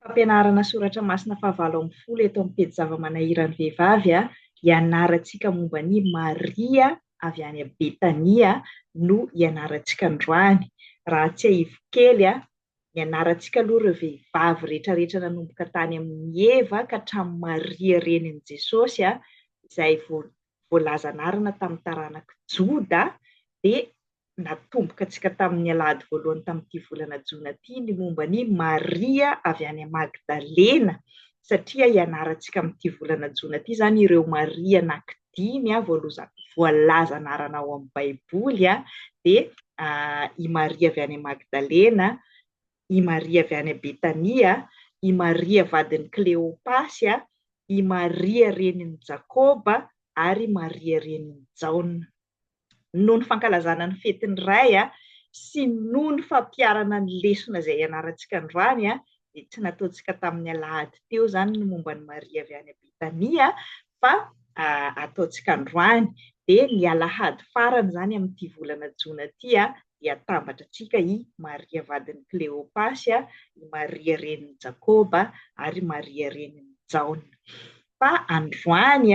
Fampianarana soratra masina fahavalo ambin'ny folo eto amin'ny pejy zava-manahiran'ny vehivavy a, ianarantsika momba an'i Maria avy any Betania no ianarantsika androany. Raha tsiahivo kely a, nianarantsika aloha ireo vehivavy rehetrarehetra nanomboka tany amin'i Eva ka hatramin'i Maria renin'i Jesosy a, izay voa, voalaza anarana tamin'ny taranak'i Joda, dia. natomboka antsika tamin'ny alahady voalohany tamin'ity volana jona ity ny momba an'i Maria avy any Magdalena, satria ianarantsika amin'ity volana jona ity izany ireo Maria anankidimy voalaza anarana ao amin'ny baiboly, dia i Maria avy any Magdalena, i Maria avy any Betania, i Maria vadin'i Kleopasy, i Maria renin'i Jakoba ary i Maria renin'i Jaona. noho ny fankalazana ny fetin'ny Ray sy noho ny fampiharana ny lesona izay ianarantsika androany dia tsy nataontsika tamin'ny alahady teo izany ny momba an'i Maria avy any Betania fa ataontsika androany dia ny alahady farany izany amin'ity volana jona ity dia atambatra antsika i Maria vadin'i Kleopasy, i Maria renin'i Jakoba ary i Maria renin'i Jaona. Fa androany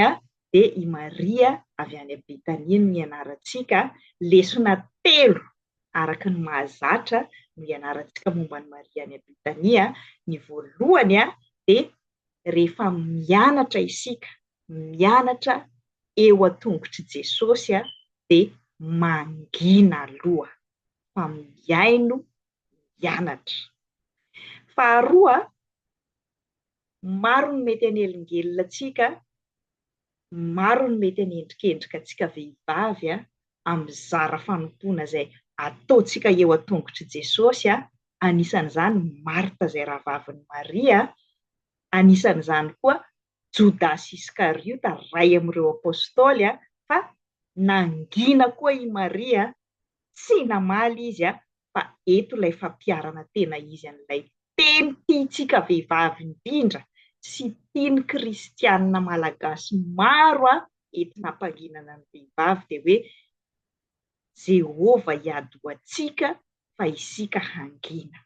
dia i Maria avy any Betania no nianarantsika, lesona telo araka ny mahazatra no ianarantsika momba an'i Maria any Betania, ny voalohany dia rehefa mianatra isika, mianatra eo an-tongotr'i Jesosy dia mangina aloha fa mihaino mianatra. Faharoa, Maro ny mety hanelingelina antsika, maro ny mety hanendrikendrika antsika vehivavy amin'ny zara fanompoana izay ataontsika eo an-tongotr'i Jesosy, anisan'izany Marta izay rahavavin'i Maria, anisan'izany koa Jodasy Iskariota iray amin'ireo Apostoly, fa nangina koa i Maria tsy namaly izy fa eto ilay fampiharana tena izy an'ilay teny tiantsika vehivavy indrindra sy tian'ny kristianina malagasy maro entina hampanginana ny vehivavy dia hoe Jehovah hiady ho antsika fa isika hangina.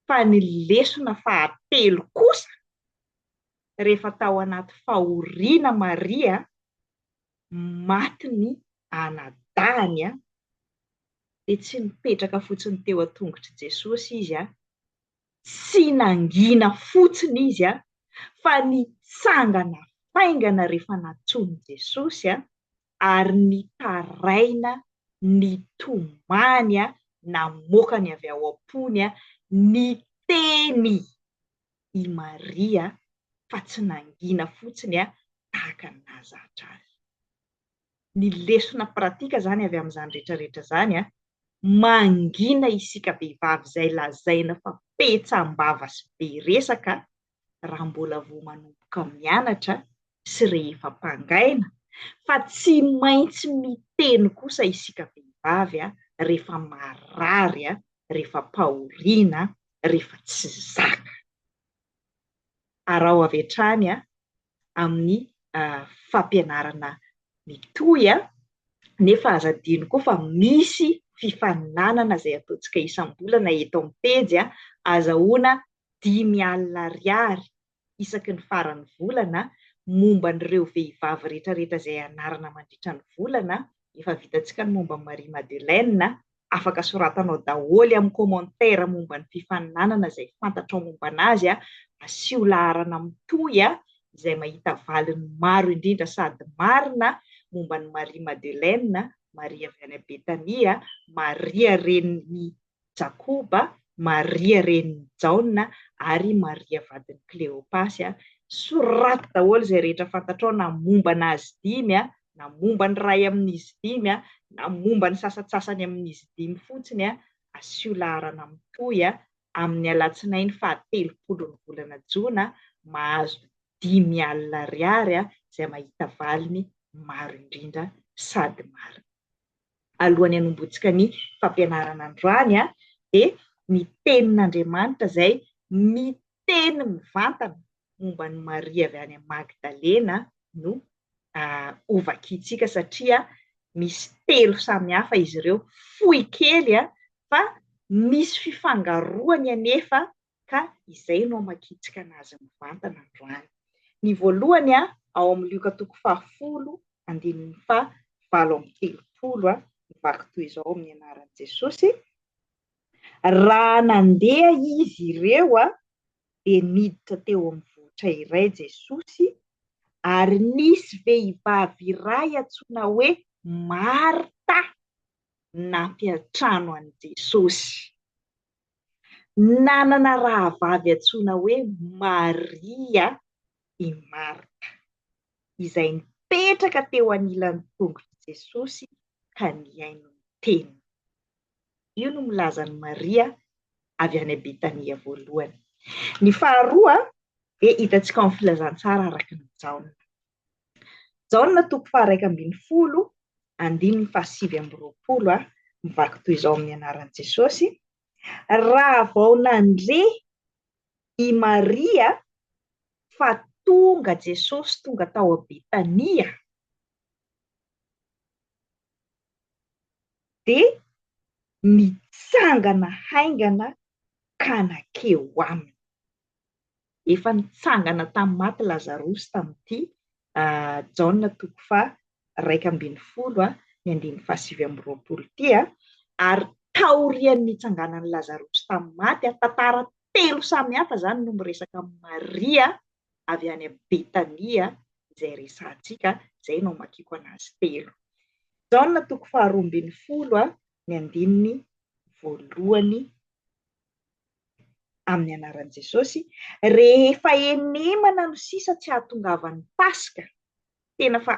Fa ny lesona fahatelo kosa, rehefa tao anaty fahoriana Maria, maty ny anadahiny an! dia tsy nipetraka fotsiny teo an-tongotr'i Jesosy izy an! tsy nangina fotsiny izy an! fa nitsangana faingana rehefa nantsoin'i Jesosy an! ary nitaraina nitomany an! namoaka ny avy ao am-pony an! ny teny i Maria fa tsy nangina fotsiny tahaka ny nahazatra azy. Ny lesona pratika izany avy amin'izany rehetra rehetra izany, mangina isika vehivavy izay lazaina fa petsam-bava sy be resaka raha mbola vao manomboka mianatra sy rehefa mpangaina, fa tsy maintsy miteny kosa isika vehivavy rehefa marary, rehefa mpahoriana, rehefa tsy zaka. Araho avy hatrany amin'ny fampianarana mitohy nefa aza adino koa fa misy fifaninanana izay ataontsika isam-bolana eto amin'ny pejy azahoana dimy alina ariary isaky ny faran'ny volana momba an'ireo vehivavy rehetrarehetra izay anarana mandritra ny volana, efa vitantsika ny momba an'i Marie Madeleine, afaka soratanao daholo amin'ny commentaire momba ny fifaninanana izay fantatrao momba anazy, asio laharana mitohy izay mahita valiny maro indrindra sady marina momba an'i Marie Madeleine, Maria avy any Betania, Maria renin'i Jakoba, Maria renin'i Jaona ary Maria vadin'i Kleopasy. Soraty daholo izay rehetra fantatrao na momba an'azy dimy, na momba ny iray amin'izy dimy, na momba ny sasantsasany amin'izy dimy fotsiny. Asio laharana mitohy amin'ny alatsinainy fahatelopolon'ny volana jona, mahazo dimy alina ariary izay mahita valiny maro indrindra sady marina. alohan'ny hanomboantsika ny fampianarana androany dia ny tenin'Andriamanitra izay miteny mivantana momba an'i Maria avy any Magdalena no hovakiantsika satria misy telo samihafa izy ireo, fohy kely fa misy fifangaroany anefa ka izay no hamakitsika an'azy mivantana androany. Ny voalohany ao amin'ny Lioka toko fahafolo andininy faha valo amby telopolo ny vaky toy izao amin'ny anaran'i Jesosy, Raha nandeha izy ireo dia niditra teo amin'ny vohitra iray Jesosy ary nisy vehivavy iray antsoina hoe Marta nampiantrano an'i Jesosy. Nanana rahavavy antsoina hoe Maria i Marta, izay nipetraka teo anilan'ny tongon'i Jesosy ka nihaino ny teniny. Io no milaza an'i Maria avy any Betania voalohany. Ny faharoa dia hitantsika ao amin'ny Filazantsara araka an'i Jaona. Jaona toko faharaika ambin'ny folo, andininy fahasivy amby roapolo, mivaky toy izao amin'ny anaran'i Jesosy, Raha vao nandre i Maria fa tonga Jesosy tonga tao Betania, dia nitsangana haingana ka nankeo aminy. Efa nitsangana tamin'ny maty Lazarosy tamin'ity Jaona toko faha iraika ambin'ny folo ny andininy faha sivy amby roapolo ity, ary taorian'ny nitsanganan'i Lazarosy tamin'ny maty, tantara telo samy hafa izany no miresaka amin'i Maria avy any Betania izay resahantsika, izay no amakiako an'azy telo. Jaona toko faha roa ambin'ny folo ny andininy voalohany amin'ny anaran'i Jesosy, rehefa enemana no sisa tsy hahatongavan'ny Paska, tena fa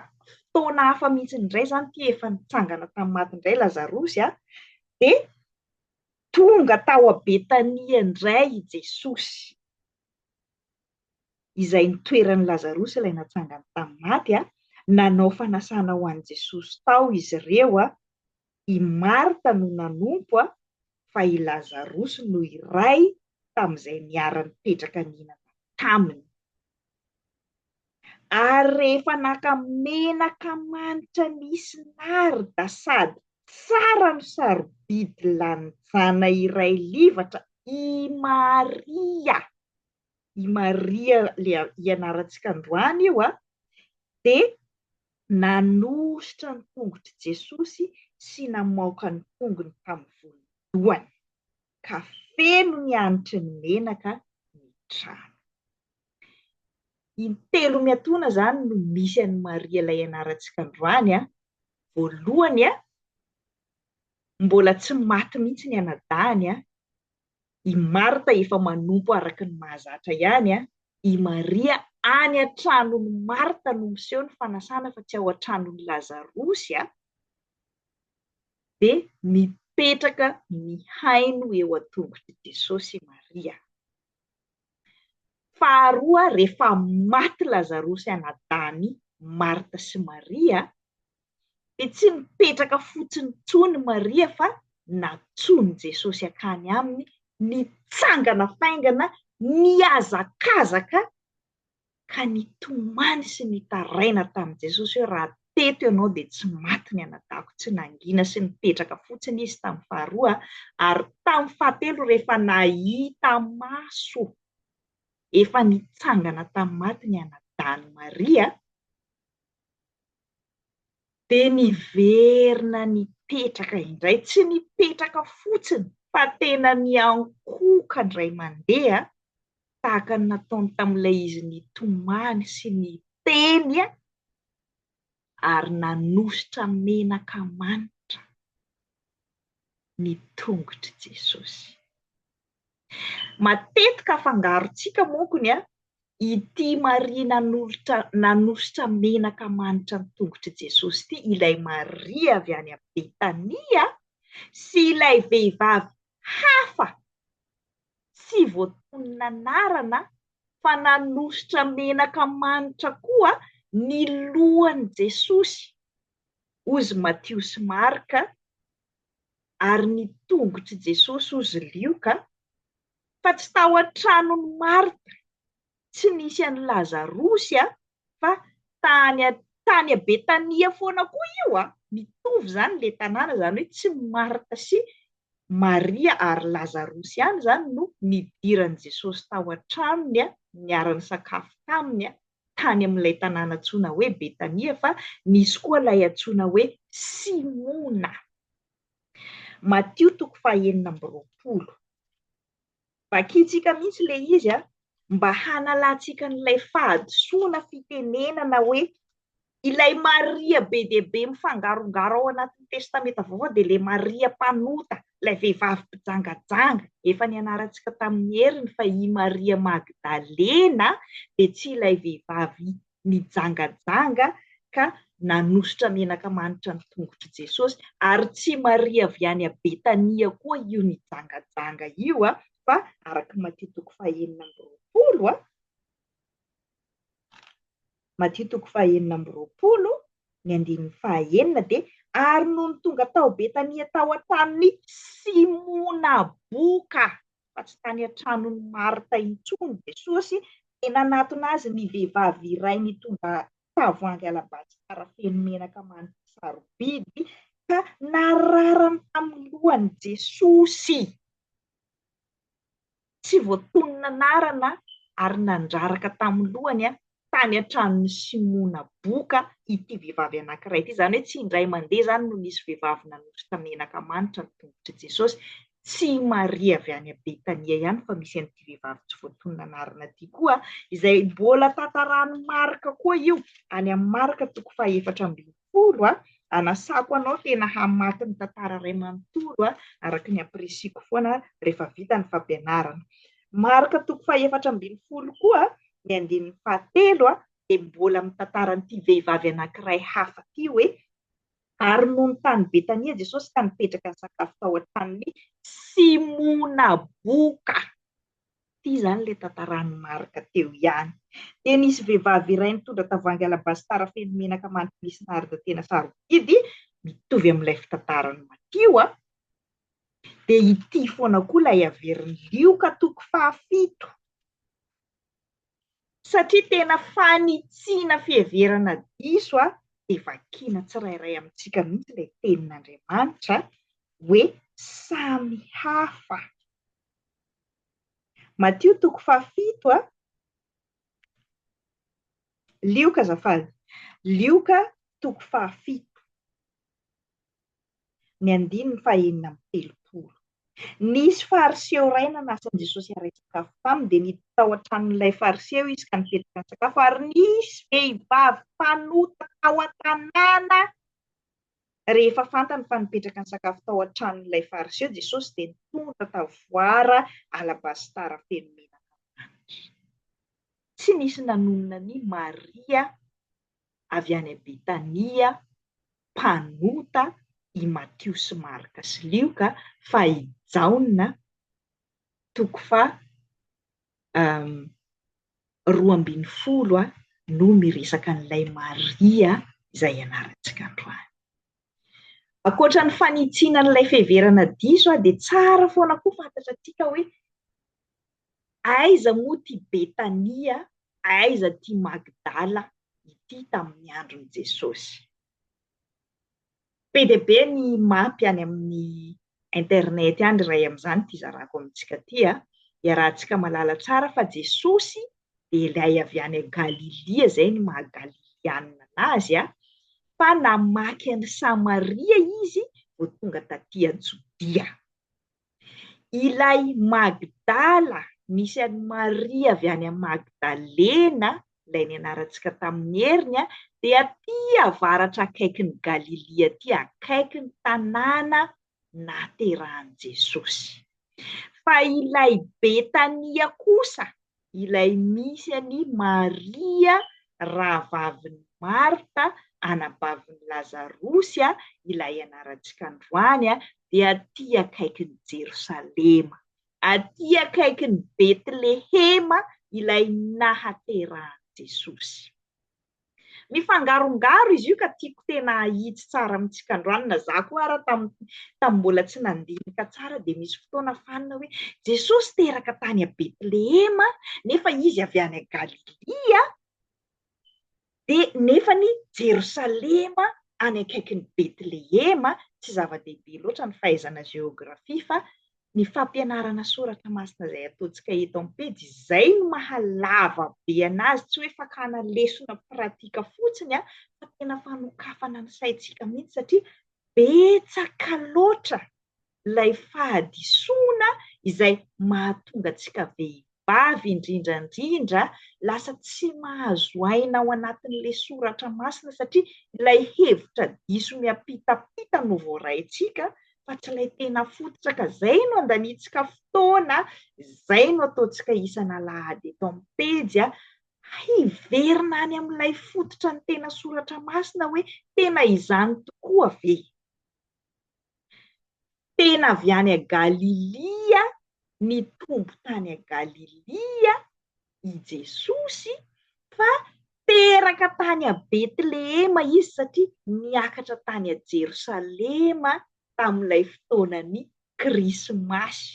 fotoana hafa mihitsy indray izany ity efa nitsangana tamin'ny maty indray Lazarosy a, dia tonga tao Betania indray i Jesosy, izay nitoeran'i Lazarosy ilay natsangany tamin'ny maty a, nanao fanasana ho an'i Jesosy tao izy ireo a, i Marta no nanompo fa i Lazarosy no iray tamin'izay niara-nipetraka nihinana taminy. Ary rehefa naka menaka manitra nisy narda sady tsara no sarobidy lanjana iray livatra i Maria, i Maria ilay ianarantsika androany io, dia Nanosotra ny tongotr'i Jesosy sy namaoka ny tongony tamin'ny volon-dohany, ka feno ny hanitry ny menaka ny trano. Intelo miatoana izany no misy an'i Maria ilay ianarantsika androany. Voalohany, mbola tsy maty mihitsy ny anadahiny, I Marta efa manompo araka ny mahazatra ihany an! I Maria any an-tranon'i Marta no miseho ny fanasana fa tsy ao an-tranon'i Lazarosy an! Dia mipetraka mihaino eo an-tongotr'i Jesosy i Maria. Faharoa, rehefa maty Lazarosy anadahany Marta sy Maria dia tsy nipetraka fotsiny intsony Maria fa natsoin'i Jesosy hankany aminy, nitsangana faingana, nihazakazaka ka nitomany sy nitaraina tamin'i Jesosy hoe raha teto ianao dia tsy maty ny anadahako, tsy nangina sy nipetraka fotsiny izy tamin'ny faharoa ary tamin'ny fahatelo rehefa nahita maso efa nitsangana tamin'ny maty ny anadahin'i Maria, Dia niverina nipetraka indray, tsy nipetraka fotsiny fa tena niankohoka indray mandeha tahaka ny nataony tamin'ilay izy nitomany sy niteny ary nanosotra menaka manitra ny tongotr'i Jesosy. Matetika afangarontsika monko ny an, ity Maria nanolotra nanositra menaka manitra ny tongotr'i Jesosy ity, ilay Maria avy any amin'i Betania, sy ilay vehivavy hafa tsy voatonona anarana fa nanositra menaka manitra koa ny lohan'i Jesosy, ozy Matio sy Marka, ary ny tongotr'i Jesosy hozy lioka, fa tsy tao an-tranon'i Marta, tsy nisy an'i Lazarosy an, fa tany tany Betania foana koa io an, mitovy izany ilay tanàna, izany hoe tsy Marta sy Maria ary Lazarosy ihany izany no nidiran'i Jesosy tao an-tranony an, niara-nisakafo taminy an, tany amin'ilay tanàna antsoina hoe Betania fa nisy koa ilay antsoina hoe Simona. Matio toko fahenina amby roapolo. Vakintsika mihitsy ilay izy mba hanalantsika an'ilay fahadisoana fitenenana hoe Ilay Maria be dia be mifangarongaro ao anatin'ny Testamenta Vaovao dia ilay Maria mpanota, ilay vehivavy mpijangajanga. Efa nianarantsika tamin'ny heriny fa i Maria Magdalena dia tsy ilay vehivavy nijangajanga ka nanositra menaka manitra ny tongotr'i Jesosy, ary tsy Maria avy any Betania koa io nijangajanga io, fa araka Matia toko fahenina amby roapolo, Matio toko fahaenina amby roapolo ny andininy fahaenina dia Ary nony tonga tao Betania tao an-tranon'i Simona boka, fa tsy tany an-tranon'i Marta intsony, Jesosy, dia nanatona Azy ny vehivavy iray nitondra tavoahangy alabasitara feno menaka manitra sarobidy, ka nararany tamin'ny lohan'i Jesosy. tsy voatonona anarana ary nandraraka tamin'ny lohany tany an-tranon'i Simona Boka ity vehivavy anankiray ity. Izany hoe tsy indray mandeha izany no nisy vehivavy nanosotra menaka manitra ny tongotr'i Jesosy. Tsy i Maria avy any Betania ihany fa misy an'ity vehivavy tsy voatonona anarana ity koa, izay mbola tantaran'i Marka koa io, any amin'ny Marka toko fahaefatra ambin'ny manontolo a, anasako anao tena hamaky ny tantara iray manontolo a, araka ny ampirisiako foana rehefa vita ny fampianarana. Marika toko fahefatra ambin'ny folo koa ny andininy fahatelo a, dia mbola mitantara an'ity vehivavy anankiray hafa ity hoe, Ary nony tany Betania Jesosy ka nipetraka nisakafo tao an-tranon'i Simona boka. Ity izany ilay tantaran'i Marc teo ihany. Dia nisy vehivavy iray nitondra tavoahangy alabasitara feno menaka mandry misy narda tena sarobidy, mitovy amin'ilay fitantaran'i Matio a! Dia ity foana koa ilay haverin'i Lioka toko fahafito. Satria tena fanitsiana fiheverana diso a! dia vakiana tsirairay amintsika mihitsy ilay tenin'Andriamanitra hoe samy hafa. Matio toko fahafito a. Lioka azafady. Lioka toko fahafito. Ny andininy fahenina amby telopolo. Nisy fariseo iray nanasa an'i Jesosy haray sakafo taminy, dia niditra tao an-tranon'ilay fariseo izy ka nipetraka nisakafo, ary nisy vehivavy mpanota tao an-tanàna. Rehefa fantany fa nipetraka nisakafo tao an-tranon'ilay Fariseo Jesosy, dia nitondra tavoara alabasitara feno menaka manitra. Tsy nisy nanonona an'i Maria avy any Betania, mpanota, i Matio sy Marka sy Lioka, fa i Jaona, toko faha, roa ambin'ny folo no miresaka an'ilay Maria izay ianarantsika androany. Ankoatra ny fanitsiana an'ilay fiheverana diso dia tsara foana koa fantatra antsika hoe aiza moa ity Betania, aiza ity Magdala ity tamin'ny andron'i Jesosy. Be dia be ny mapy any amin'ny internet any iray amin'izany ity zarako amintsika ity a! Iarahantsika mahalala tsara fa Jesosy dia ilay avy any Galilia, izay ny maha Galilianina an'azy a! fa namaky an'i Samaria izy vao tonga taty an-Jodia. Ilay Magdala, misy an'i Maria avy any Magdalena, ilay nianarantsika tamin'ny heriny, dia aty avaratra akaikin'i Galilia aty, akaiky ny tanàna naterahan'i Jesosy. Fa ilay Betania kosa, ilay misy an'i Maria rahavavin'i Marta anabavin'i Lazarosy ilay ianarantsika androany dia aty akaikin'i Jerosalema, aty akaikin'i Betlehema ilay nahaterahan'i Jesosy. Mifangarongaro izy io ka tiako tena ahitsy tsara amintsika androany na za koa ara tam tam mbola tsy nandinika tsara dia misy fotoana fanina hoe Jesosy teraka tany a Betlehema nefa izy avy any a Galilia dia nefa ny Jerosalema any akaikin'i Betlehema tsy zava-dehibe loatra ny fahaizana géographie fa Ny fampianarana soratra masina izay ataontsika eto amin'ny pejy, izay no maha lava be an'azy, tsy hoe fakana lesona pratika fotsiny an, fa tena fanokafana ny saintsika mihitsy satria betsaka loatra ilay fahadisoana izay mahatonga antsika vavy indrindra indrindra lasa tsy mahazo aina ao anatin'ilay soratra masina satria ilay hevitra diso miampitampita no voaraintsika fa tsy ilay tena fototra ka izay no andaniantsika fotoana, izay no ataontsika isan'alahady eto amin'ny pejy a, hiverina any amin'ilay fototra ny tena soratra masina hoe tena izany tokoa ve? Tena avy any Galilia, nitombo tany Galilia i Jesosy fa teraka tany Betlehema izy satria niakatra tany Jerosalema tamin'ilay fotoanan'ny Krismasy.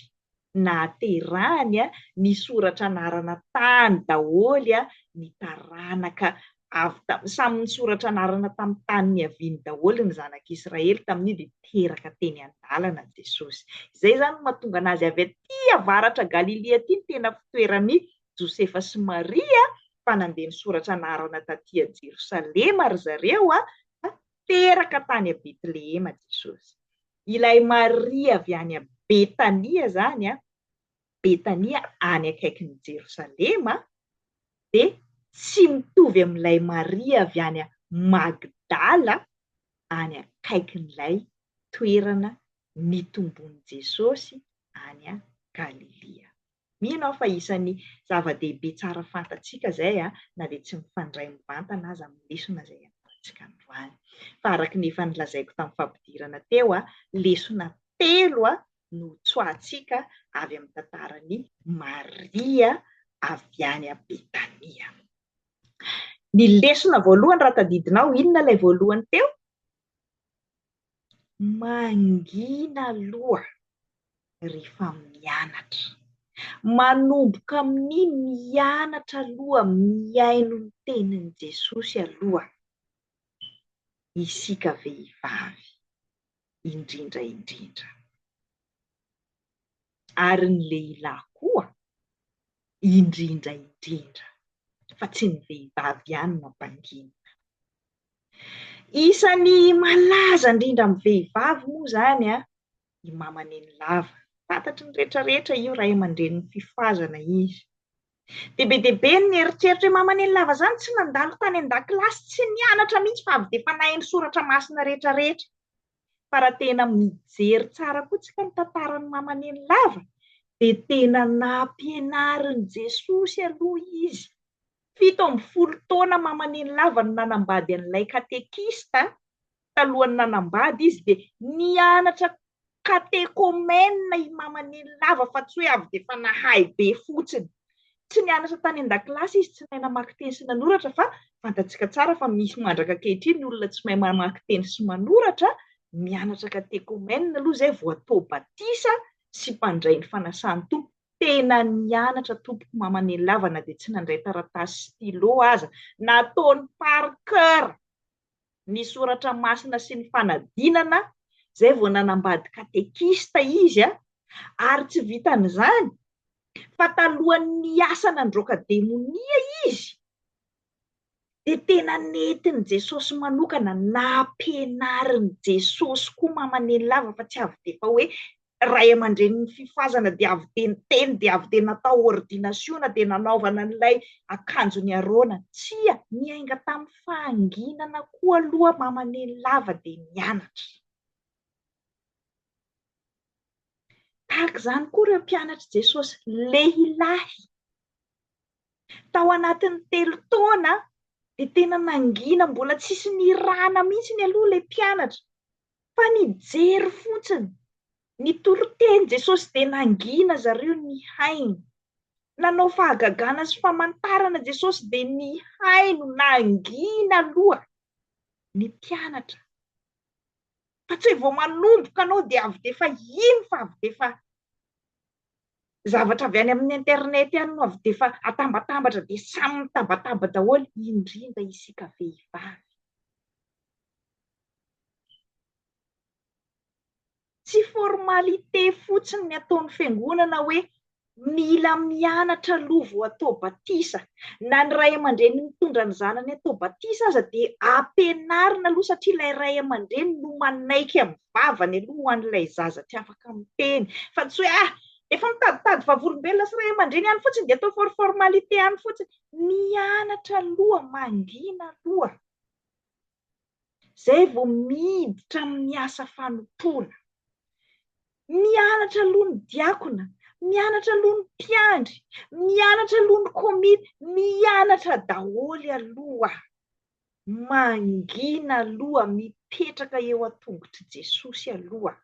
nahaterahany ny soratra anarana tany daholo ny taranaka avy tamin'ny, samy nisoratra anarana tamin'ny tany niaviany daholo ny zanak'Israely tamin'io dia teraka teny an-dalana Jesosy. Izay izany no mahatonga anazy avy aty avaratra Galilia aty ny tena fitoeran'i Josefa sy Maria fa nandeha nisoratra anarana taty a Jerosalema ry zareo fa teraka tany a Betlehema Jesosy. ilay Maria avy any Betania izany, Betania any akaikin'i Jerosalema, dia tsy mitovy amin'ilay Maria avy any Magdala any akaikin'ilay toerana nitomboan'i Jesosy any Galilia. Mino aho fa isan'ny zava-dehibe tsara fantatsika izay na dia tsy mifandray mivantana aza amin'ny lesona izay ianarantsika androany. Fa araka ny efa nolazaiko tamin'ny fampidirana teo, lesona telo no ho tsoahantsika avy amin'ny tantaran'i Maria avy any Betania. Ny lesona voalohany raha tadidinao, inona ilay voalohany teo? Mangina aloha rehefa mianatra. Manomboka amin'ny mianatra aloha mihaino ny tenin'i Jesosy aloha isika vehivavy indrindra indrindra. Ary ny lehilahy koa, indrindra indrindra, fa tsy ny vehivavy ihany no ampanginina. Isan'ny malaza indrindra amin'ny vehivavy moa izany i Mama Nenilava. Fantatry ny rehetra rehetra io, ray aman-drenin'ny Fifazana izy. Dia be dia be ny nieritreritra hoe Mama Nenilava izany tsy nandalo tany an-dakilasy, tsy nianatra mihitsy fa avy dia fanahy ny soratra masina rehetra rehetra. fa raha tena mijery tsara koa tsika ny tantaran'i Mamanenilava dia tena nampianarin'i Jesosy aloha izy. Fito ambin'ny folo taona Mamanenilava no nanambady an'ilay katekista, talohan'ny nanambady izy dia nianatra katekomena i Mamanenilava fa tsy hoe avy dia efa nahay be fotsiny. Tsy nianatra tany an-dakilasy izy, tsy nahay namaky teny sy nanoratra fa fantatsika tsara fa misy mandraka ankehitriny olona tsy mahay mamaky teny sy manoratra, mianatra katekomena aloha izay vao atao batisa sy mpandray ny fanasan'ny Tompo. Tena nianatra tompoko Mamanelava na dia tsy nandray taratasy sy stylo aza, nataony par cœur. ny soratra masina sy ny fanadinana izay vao nanambady katekista izy a! ary tsy vitan'izany fa talohan'ny niasa nandroaka demonia izy dia tena nentin'i Jesosy manokana, nampianarin'i Jesosy koa mamanenilava fa tsy avy dia efa hoe ray aman-drenin'ny fifazana dia avy dia niteny dia avy dia natao ordinasiona dia nanaovana an'ilay akanjon'i Arona. Tsia, niainga tamin'ny fahanginana koa aloha Mama Neny lava dia nianatra. Tahaka izany koa ireo mpianatr'i Jesosy lehilahy. Tao anatin'ny telo taona dia tena nangina mbola tsisy nirana mihitsy ny aloha ilay mpianatra. Fa nijery fotsiny. Nitory teny Jesosy dia nangina zareo nihaino. Nanao fahagagana sy famantarana Jesosy dia nihaino, nangina aloha ny mpianatra. Fa tsy vao manomboka anao dia avy dia efa ino fa avy dia efa zavatra avy any amin'ny internet any no avy dia efa atambatambatra dia samy mitabataba daholo indrindra isika vehivavy. Tsy formalité fotsiny ny ataon'ny fiangonana hoe mila mianatra aloha vao atao batisa. Na ny ray aman-dreny mitondra ny zanany atao batisa aza dia ampianarina aloha satria ilay ray aman-dreny no manaiky amin'ny vavany aloha ho an'ilay zaza tsy afaka miteny. Fa tsy hoe ah! efa mitaditady vavolombelona sy ray aman-dreny ihany fotsiny dia atao for formalité ihany fotsiny. Mianatra aloha, mangina aloha. izay vao miditra amin'ny asa fanompoana. Mianatra aloha ny diakona, mianatra aloha ny mpiandry, mianatra aloha ny komity, mianatra daholo aloha. Mangina aloha, mipetraka eo an-tongotr'i Jesosy aloha.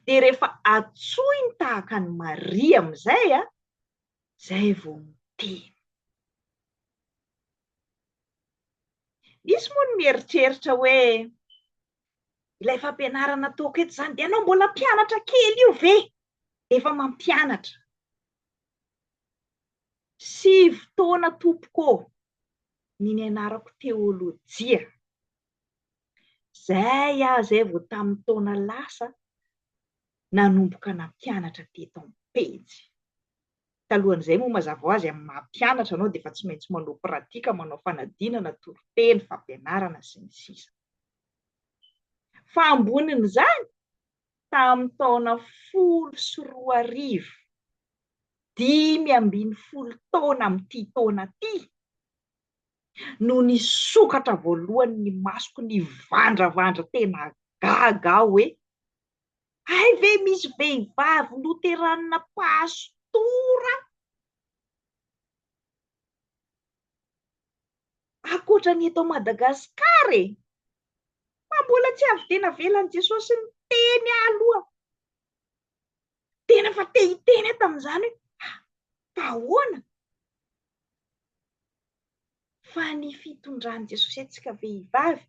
Dia rehefa antsoiny tahaka an'i Maria amin'izay, izay vao miteny. Misy moa ny mieritreritra hoe ilay fampianarana ataoko eto izany dia ianao mbola mpianatra kely io ve? Efa mampianatra. Sivy taona tompoko ny nianarako teolojia. Zay aho zay vao tamin'ny taona lasa nanomboka nampianatra teto amin'ny pejy. Talohan'izay moa mazava ho azy amin'ny maha mpianatra anao dia efa tsy maintsy manao pratika, manao fanadinana, toriteny, fampianarana sy ny sisa. Fa ambonin'izany, tamin'ny taona folo sy roa arivo, dimy ambin'ny folo taona amin'ity taona ity, no nisokatra voalohany ny masoko nivandravandra tena gaga aho hoe Hay ve misy vehivavy loteranina pastora? Ankoatra ny eto Madagasikara e! Fa mbola tsy avy dia navelan'i Jesosy niteny aloha. Tena fa te hiteny aho tamin'izany hoe fa ahoana? fa ny fitondran'i Jesosy antsika vehivavy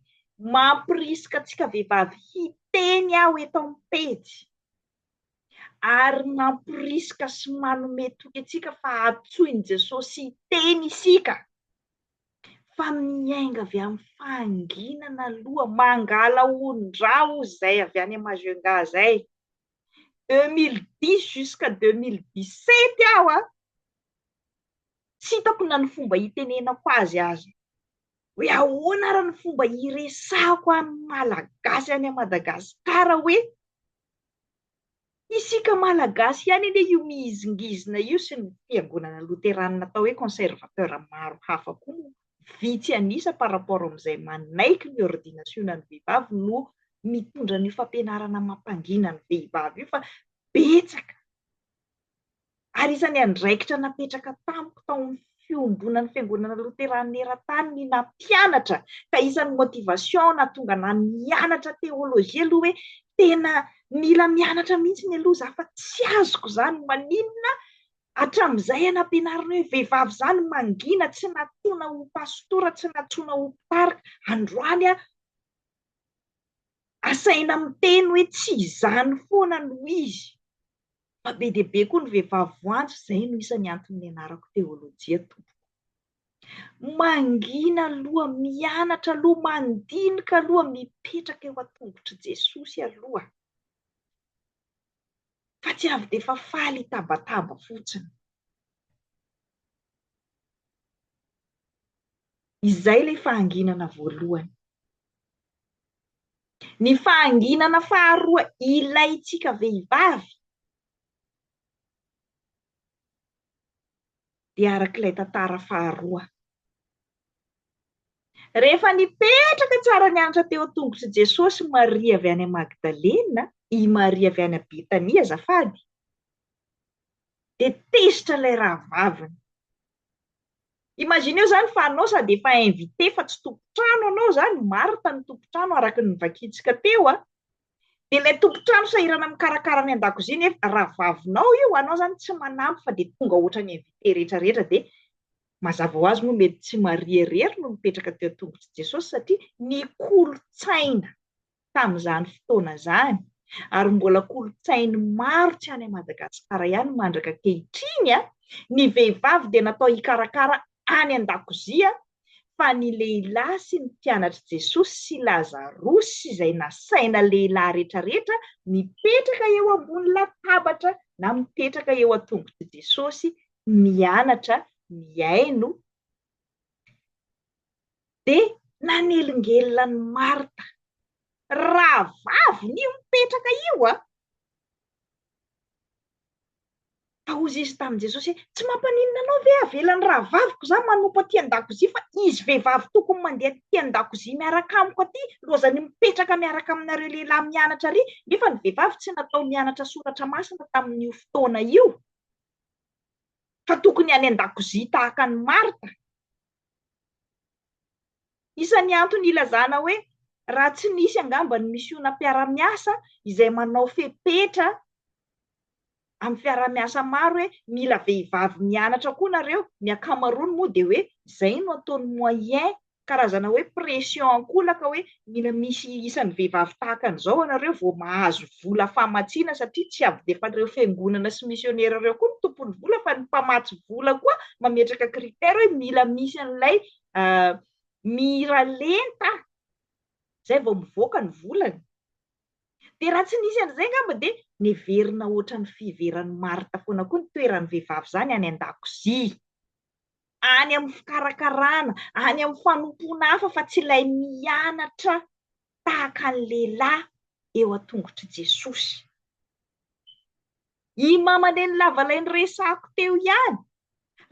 mampirisika antsika vehivavy hiteny aho eto amin'ny pejy ary nampirisika sy manome toky antsika fa antsoin'i Jesosy hiteny isika fa miainga avy amin'ny fahanginana aloha mangala ondra hozy izay avy any Majunga izay 2010 jusqu'à 2017 aho a Tsy hitako na ny fomba hitenenako azy aza. Hoe ahoana ary ny fomba hiresahako amin'ny Malagasy any Madagascar hoe isika Malagasy ihany anie io mihizingizina io sy ny fiangonana loteranina atao hoe conservateur maro hafa koa moa vitsy an'isa par rapport amin'izay manaiky ny ordinasionan'ny vehivavy no mitondra an'io fampianarana mampangina ny vehivavy io fa betsaka Ary isan'ny andraikitra napetraka tamiko tao amin'ny Fiombonan'ny Fiangonana Loteranina Eran-tany ny nampianatra, ka isan'ny motivation nahatonga ahy nianatra Théologie aloha hoe tena mila mianatra mihitsy ny aloha za fa tsy azoko izany, maninona hatramin'izay aho nampianarina hoe vehivavy izany mangina, tsy natoana ho pastora, tsy natsoina ho mpitarika, androany aho asaina miteny hoe tsy izany foana no izy. Fa be dia be koa ny vehivavy voantso izay no isan'ny antony nianarako teolojia tompoko. Mangina aloha, mianatra aloha, mandinika aloha, mipetraka eo an-tongotr'i Jesosy aloha. Fa tsy avy dia efa faly hitabataba fotsiny. Izay ilay fahanginana voalohany. Ny fahanginana faharoa ilaintsika vehivavy dia araka ilay tantara faharoa. Rehefa nipetraka tsara nianatra teo an-tongotr'i Jesosy Maria avy any Magdalena, i Maria avy any Betania azafady, dia tezitra ilay rahavaviny. Imagineo izany fa anao sady efa invité fa tsy tompon-trano anao izany, Martha no tompon-trano araka ny novakintsika teo an, dia ilay tompon-trano sahirana mikarakara ny an-dakozia nefa rahavavinao io, anao izany tsy manampy fa dia tonga ohatra ny invité rehetra rehetra dia mazava ho azy moa mety tsy Maria irery no mipetraka teo an-tongotr'i Jesosy satria ny kolontsaina tamin'izany fotoana izany ary mbola kolontsain'ny maro tsy any Madagasikara ihany mandraka ankehitriny ny vehivavy dia natao hikarakara any an-dakozia fa ny lehilahy sy ny mpianatr'i Jesosy sy Lazarosy sy izay nasaina lehilahy rehetrarehetra mipetraka eo ambony latabatra na mipetraka eo an-tongotr'i Jesosy mianatra mihaino Dia nanelingelina an'i Marta. Rahavaviny io mipetraka io an! Ka hozy izy tamin'i Jesosy hoe, Tsy mampaninona anao ve havelan'ny rahavaviko izaho manompo aty an-dakozia fa izy vehivavy tokony mandeha aty an-dakozia miaraka amiko aty lozany mipetraka miaraka aminareo lehilahy mianatra ary nefa ny vehivavy tsy natao nianatra soratra masina tamin'io fotoana io fa tokony any an-dakozia tahaka an'i Marta. Isan'ny antony ilazana hoe raha tsy nisy angamba ny misiona mpiara-miasa izay manao fepetra amin'ny fiaraha-miasa maro hoe mila vehivavy mianatra koa nareo, ny ankamaroany moa dia hoe izay no ataon'ny moyen, karazana hoe pression an-kolaka hoe Mila misy isan'ny vehivavy tahaka an'izao anareo vao mahazo vola famatsiana satria tsy avidefan'ireo fiangonana sy misionera ireo koa ny tompon'ny vola fa ny mpamatsy vola koa mametraka critère hoe mila misy an'ilay miralenta zay vao mivoaka ny volany. Dia raha tsy nisy an'izay angamba dia neverina ohatran'ny fiheveran'i Marta foana koa ny toeran'ny vehivavy izany any an-dakozia. any amin'ny fikarakarana, any amin'ny fanompoana hafa fa tsy ilay mianatra tahaka ny lehilahy eo an-tongotr'i Jesosy. I mamanen'i lava ilay niresahako teo ihany,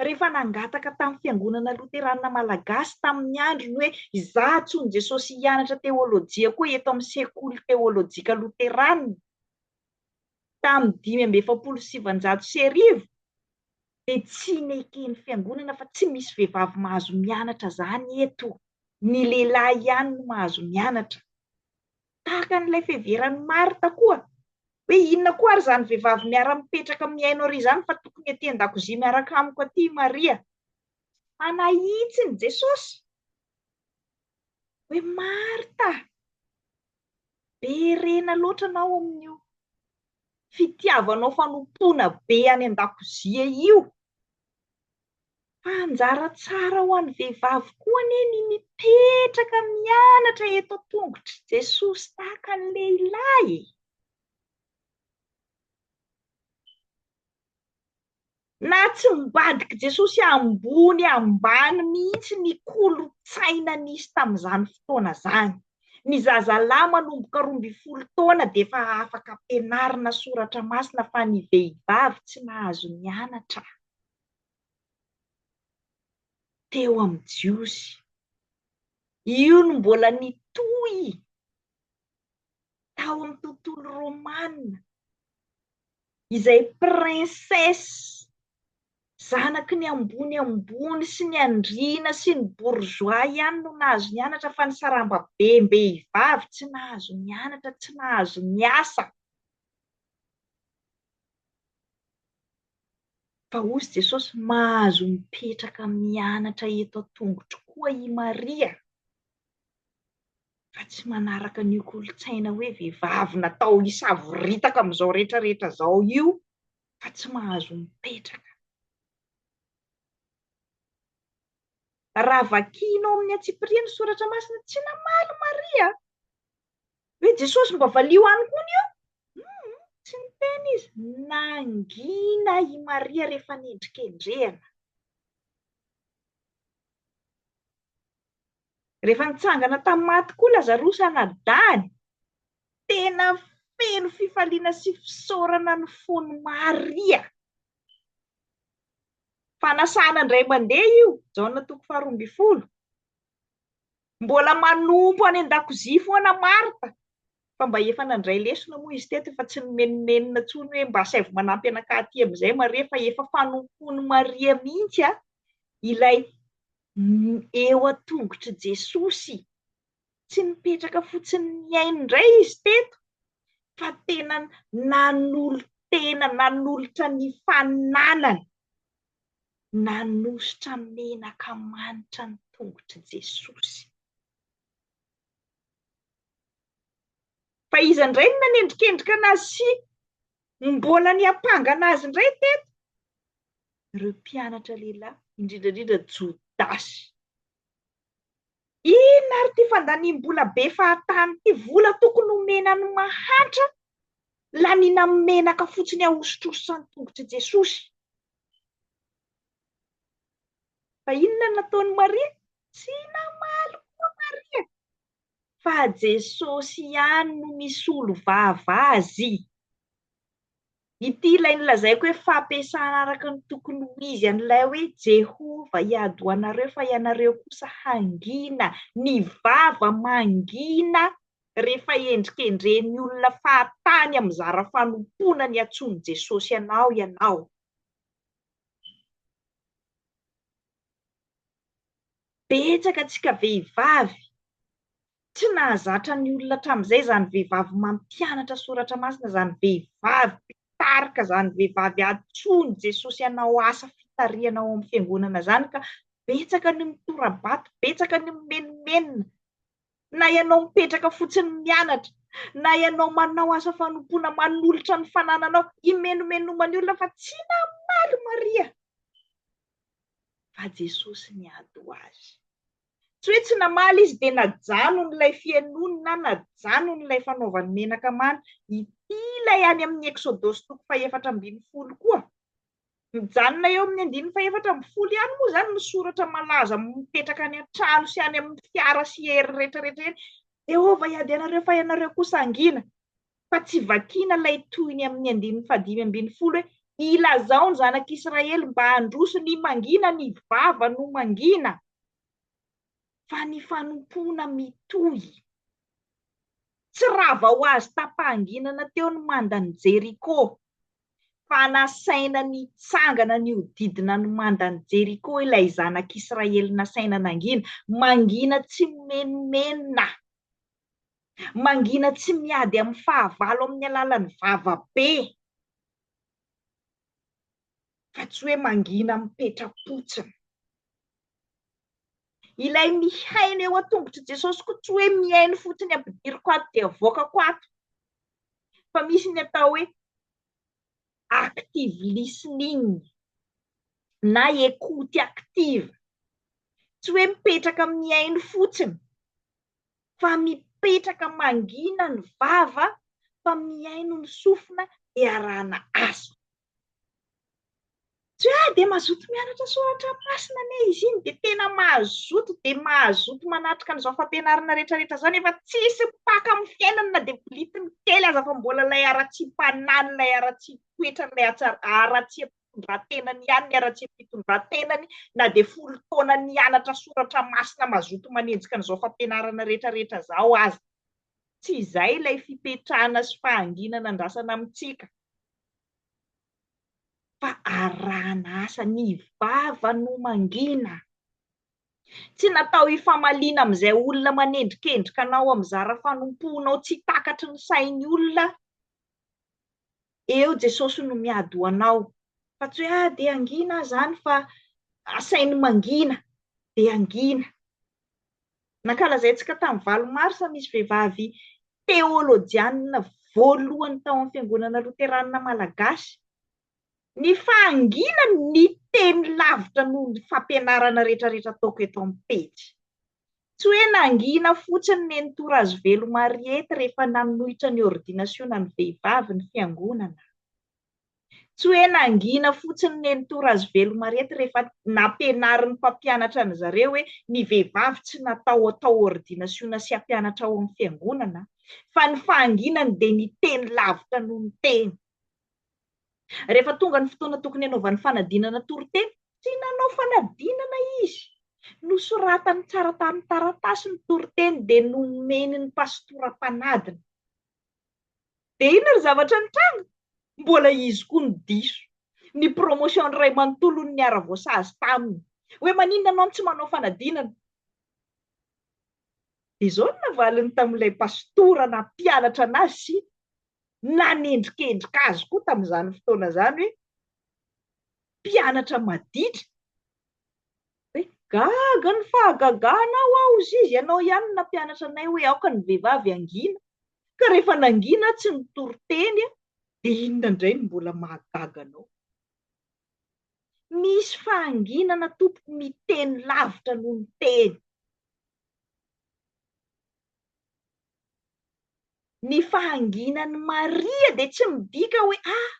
rehefa nangataka tamin'ny fiangonana loteranina malagasy tamin'ny androny hoe izaho antsoin'i Jesosy hianatra teolojia koa eto amin'ny sekoly teolojika loteranina, tamin'ny dimy amby efapolo sy sivinjato sy arivo dia tsy neken'ny fiangonana fa tsy misy vehivavy mahazo mianatra izany eto, ny lehilahy ihany no mahazo mianatra. Tahaka an'ilay fiheveran'i Martha koa hoe inona koa ary izany vehivavy miara-mipetraka mihaino ary izany fa tokony aty an-dakozia miaraka amiko aty i Maria. Manahitsy ny Jesosy hoe Martha, be rena loatra anao amin'io fitiavanao fanompoana be any an-dakozia io, fa anjara tsara ho an'ny vehivavy koa anie ny mipetraka mianatra eto an-tongotr'i Jesosy tahaka ny lehilahy e! Na tsy nibadik'i Jesosy ambony ambany mihitsy ny kolontsaina nisy tamin'izany fotoana izany. Ny zazalahy manomboka roa ambin'ny folo taona dia efa afaka ampianarina soratra masina fa ny vehivavy tsy nahazo nianatra teo amin'ny Jiosy. Io no mbola nitohy. tao amin'ny tontolo romana, izay princesse, zanaky ny ambony ambony sy ny andriana sy ny bourgeois ihany no nahazo nianatra fa ny sarambabem-behivavy tsy nahazo nianatra, tsy nahazo niasa. Fa hozy Jesosy, mahazo mipetraka mianatra eto an-tongotro koa i Maria. fa tsy manaraka an'io kolontsaina hoe vehivavy natao hisavoritaka amin'izao rehetra rehetra izao io fa tsy mahazo mipetraka. Raha vakianao amin'ny antsipiriany ny soratra masina, tsy namaly Maria hoe Jesosy mba valio any koa ny eo? Hum, tsy niteny izy, nangina i Maria rehefa nendrikendrehana. Rehefa nitsangana tamin'ny maty koa Lazarosy anadahiny, tena feno fifaliana sy fisaorana ny fon'i Maria. Fanasana indray mandeha io, Jaona toko faharoa ambin'ny folo. Mbola manompo any an-dakozia foana Marta, fa mba efa nandray lesona moa izy teto, efa tsy nimenomenona intsony hoe mba asaivo manampy anakahy aty amin'izay Maria, fa efa fanompoan'i Maria mihitsy ilay eo an-tongotr'i Jesosy. Tsy nipetraka fotsiny nihaino indray izy teto, fa tena nanolo-tena, nanolotra ny fananany, nanosotra menaka manitra ny tongotr'i Jesosy. Fa iza indray no nanendrikendrika anazy sy mbola niampangana azy indray teto? ireo mpianatra lehilahy, indrindra indrindra Jodasy. Inona ary ity fandaniam-bola be fahatany ity? Vola tokony homena ny mahantra, laniana amin'ny menaka fotsiny ahosotrosan ny tongotr'i Jesosy. Fa inona no nataon'i Maria? Tsy namaly koa Maria. fa Jesosy ihany no misolo vava azy. Ity ilay nolazaiko hoe fampiasana araka ny tokony ho izy an'ilay hoe Jehovah hiady ho anareo fa ianareo kosa hangina. Ny vava mangina rehefa endrikendrehin'ny olona fahatany amin'ny zara fanompoana ny antsoin'i Jesosy anao ianao. Betsaka antsika vehivavy tsy nahazatra ny olona hatramin'izay izany vehivavy mampianatra soratra masina izany vehivavy mpitarika izany vehivavy antsoin'i Jesosy hanao asa fitarihana ao amin'ny fiangonana izany ka betsaka ny mitorabato betsaka ny mimenomenona na ianao mipetraka fotsiny mianatra na ianao manao asa fanompoana manolotra ny fanananao imenomenomany olona fa tsy namaly Maria fa Jesosy niady ho azy. Tsy hoe tsy namaly izy dia najanony ilay fihainoany na najanony ilay fanaovany menaka manta. Ity ilay any amin'ny Eksodosy toko fahefatra ambin'ny folo koa. Mijanona eo amin'ny andininy fahefatra ambin'ny folo ihany moa izany ny soratra malaza mipetraka any an-trano sy any amin'ny fiara sy hery rehetra rehetra eny. Jehovah hiady anareo fa ianareo kosa hangina. fa tsy vakiana ilay tohiny amin'ny andininy fahadimy ambin'ny folo hoe, Ilazao ny zanak'Israely mba handroso ny mangina ny vava no mangina, fa ny fanompoana mitohy. Tsy rava ho azy tapahanginana teo ny mandan'i Jeriko, fa nasaina nitsangana nihodidina ny mandan'i Jeriko ilay zanak'Israely nasaina nangina, mangina tsimenomenona. Mangina tsy miady amin'ny fahavalo amin'ny alalan'ny vava be, fa tsy hoe mangina mipetra-potsiny. Ilay mihaino eo an-tongotr'i Jesosy koa tsy hoe mihaino fotsiny ampidiriko ato dia avoakako ato, fa misy ny atao hoe active listening na écoute active, tsy hoe mipetraka mihaino fotsiny fa mipetraka mangina ny vava fa mihaino ny sofina iarahana asa. Tsy hoe ah dia mazoto mianatra soratra masina anie izy iny dia tena mazoto dia mazoto manatrika an'izao fampianarana rehetrarehetra izao nefa tsisy mpaka amin'ny fiainany na dia bolitiny kely aza fa mbola ilay haratsiam-panahin'ilay haratsiam-toetrany ilay haratsiam-panahin'ilay fitondran-tenany ihany ny haratsiam-pitondran-tenany na dia folo taona nianatra soratra masina mazoto manenjika an'izao fampianarana rehetrarehetra izao aza. Tsy izay ilay fipetrahana sy fahanginana andrasana amintsika fa arahana asa. Ny vava no mangina. Tsy natao hifamaliana amin'izay olona manendrikendrika anao amin'ny zara fanompoanao tsy takatry ny sain'ny olona eo Jesosy no miady ho anao fa tsy hoe ah dia hangina aho zany fa asainy mangina dia hangina. Nankalazaintsika tamin'ny valo marsa misy vehivavy teolojianina voalohany tao amin'ny fiangonana loteranina malagasy ny fahanginany niteny lavitra noho ny fampianarana retraretra ataoko eto amin'ny pejy. Tsy hoe nangina fotsiny Nenitoa Razoveloma Ariety rehefa nanohitra ny ôrdinasionan'ny vehivavy ny Fiangonana. Tsy hoe nangina fotsiny Nenitoa Razoveloma Ariety rehefa nampianarin'ny mpampianatra an-dry zareo hoe ny vehivavy tsy natao hatao ôrdinasiona sy hampianatra ao amin'ny Fiangonana, fa ny fahanginany dia niteny lavitra noho ny teny. Rehefa tonga ny fotoana tokony hanaovany fanadinana toriteny, tsy nanao fanadinana izy. Nosoratany tsara tamin'ny taratasy ny toriteny dia nomeny ny pastora mpanadina. Dia inona ry zavatra nitranga? Mbola izy koa no diso. Ny promotion ny ray manontolo no niara-voasazy taminy. Hoe maninona ianao no tsy manao fanadinana? Dia izao no navaliny tamin'ilay pastora nampianatra anazy sy nanendrikendrika azy koa tamin'izany fotoana izany hoe mpianatra maditra. Hoe gaga ny fahagaganao aho hozy izy, ianao ihany no nampianatra anay hoe aoka ny vehivavy hangina, ka rehefa nangina aho tsy nitory teny aho, dia inona indray no mbola mahagaga anao? Misy fahanginana tompoko miteny lavitra noho ny teny. Ny fahanginan'i Maria dia tsy midika hoe ah!